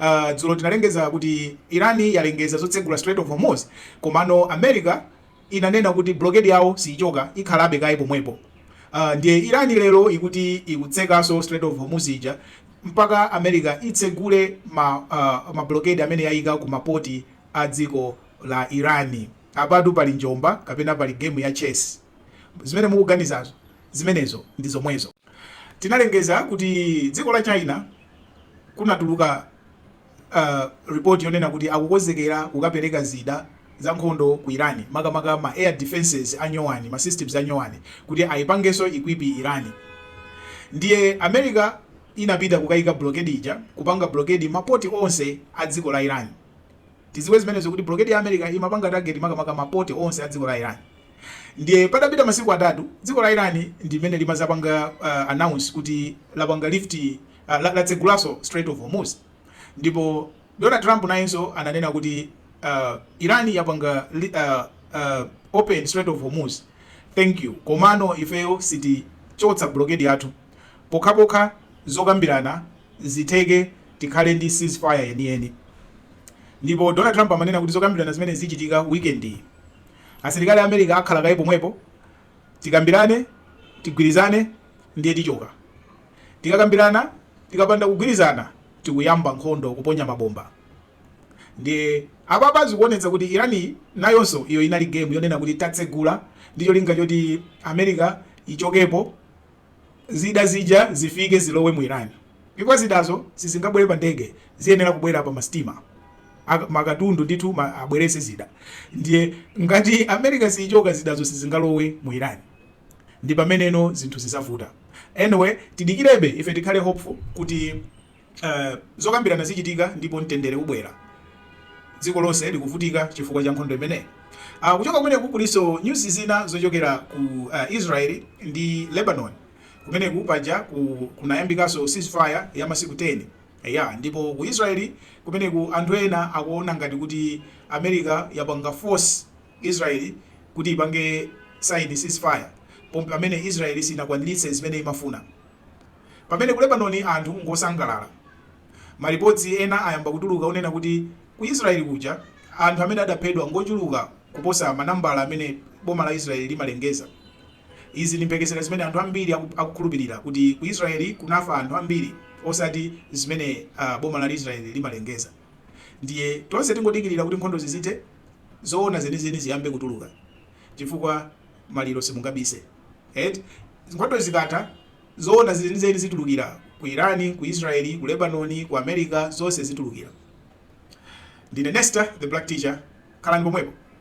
Uh, dzulo tinalengeza kuti Iran yalengeza zotsegula Strait of Hormuz komano America inanena kuti blockade yawo siyichoka ikhalabe kaye pomwepo. Uh, ndiye Iran lero ikuti ikutsekanso Strait of Hormuz ija mpaka America itsegule ma, uh, ma blockade amene yayika ku mapoti a dziko la Iran. Apatu pali njomba kapena pali game ya chess zimene mukuganizazo zimenezo ndi zomwezo. Tinalengeza kuti dziko la China kunatuluka report yonena kuti akukonzekera kukapereka zida zankhondo ku Iran makamaka ma air defences anyowani ma systems anyowani kuti ayipangenso equip Iran ndiye America inapita kukayika blockade ija kupanga blockade ma port onse a dziko la Iran tiziwe zimenezo kuti blockade ya America imapanga target makamaka ma port onse a dziko la Iran Ndiye patapita masiku atatu, dziko la Iran ndimene limazapanga uh, announce kuti lapanga lift uh, la- latsegulanso Strait of Hormuz ndipo Donald Trump nayenso ananena kuti uh, Iran yapanga li- uh, uh, open Strait of Hormuz thank you komano ifeyo sitichotsa blockade yathu pokhapokha zokambirana zitheke tikhale ndi ceasefire yeniyeni ndipo Donald Trump amanena kuti zokambirana zimene zichitika weekend iyi Asilikali a America akhala kaye pomwepo. Tikambirane, tigwirizane, ndiye tichoka. Tikakambirana, tikapanda kugwirizana, tikuyamba nkhondo, kuponya mabomba. Ndiye apapa zikuonetsa kuti Iran nayonso iyo inali game yonena kuti tatsegula ndi cholinga choti America ichokepo. Zida zija zifike zilowe mu Iran chifukwa zidazo sizingabwere pa ndege ziyenera kubwera pa ma stima ma katundu ndithu abwerese zida ndiye ngati America siyichoka zidazo sizingalowe mu Iran ndipameneno zinthu zizavuta anyway tidikirebe ife tikhale hopeful kuti Uh, zokambirana zichitika ndipo mtendere ubwera. Dziko lonse likuvutika chifukwa cha nkhondo imeneyi. Uh, kuchoka kumeneku kulinso news zina zochokera ku uh, Israel ndi Lebanon kumene kupaja ku, kunayambikanso ceasefire ya masiku 10 ndipo ku Israel kumeneku anthu ena akuona ngati kuti America yapanga force Israel kuti ipange sign ceasefire pomwe pamene Israel sinakwaniritse zimene imafuna Pamene ku Lebanon anthu ngosangalala, malipotsi ena ayamba kutuluka onena kuti ku Israel kuja anthu amene adaphedwa ngochuluka kuposa manambala amene boma la Israel limalengeza. Izi ndi mphekesera zimene anthu ambiri akukhulupirira kuti ku Israel kunafa anthu ambiri osati zimene boma la Israel limalengeza. Ndiye tonse tingodikirira kuti nkhondozi zithe, zoona zenizeni ziyambe kutuluka. chifukwa maliro simungabise eti nkhondozi zikatha zoona zenizeni zitulukira ku Iran, ku Israel, ku Lebanon, ku America zonse zitulukira. Ndine Nesta the Black Teacher khalani pomwepo.